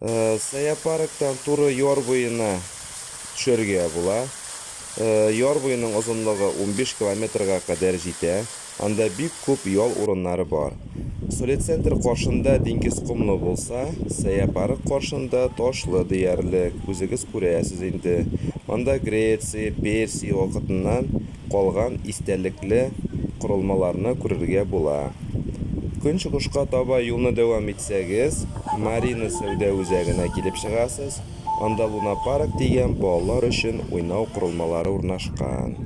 Зоопарктан туры яр буена төшәргә була. Яр буеның озынлыгы унбиш километрга кадәр җитә. Анда бик күп ял урыннары бар. Солецентр каршында диңгез комлы булса, зоопарк каршында ташлы диярлек, үзегез күрәсез инде. Анда Греция, Персия вакытыннан калган истәлекле корылмаларны күрергә була. Көнчыгышка таба юлны дәвам итсәгез, Марина сәүдә үзәгенә килеп чыгасыз, анда Лунапарк дигән балалар өчен уйнау корылмалары урнашкан.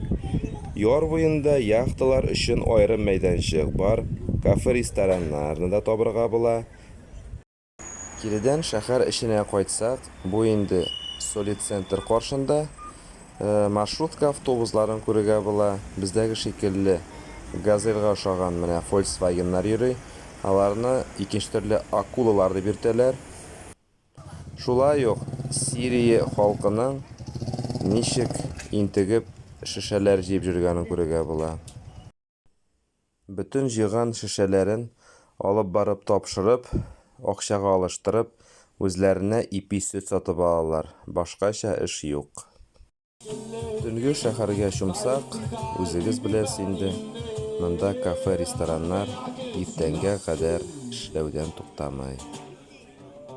Яр буенда яхталар өчен аерым мәйданчык бар, кафе-рестораннарны да табырга була. Киредән шәһәр эченә кайтсак, бу инде Солид центр каршында, маршрутка автобусларын күрергә була, бездәге шикелле Газельга ошаган менә Фольксвагеннар йөри, аларны икенче төрле Акулалар дип йөртәләр. Шулай ук Сирия халкының ничек интегеп шешәләр җыеп җөргәнен күрергә була. Бөтен җыйган шешәләрен алып барып тапшырып, акчага алыштырып, үзләренә ипи сөт сатып алалар, башкача эш юк. Төнге шәһәргә чумсак, үзегез беләс инде, монда кафе-рестораннар иртәнгә кадәр эшләүдән туктамый.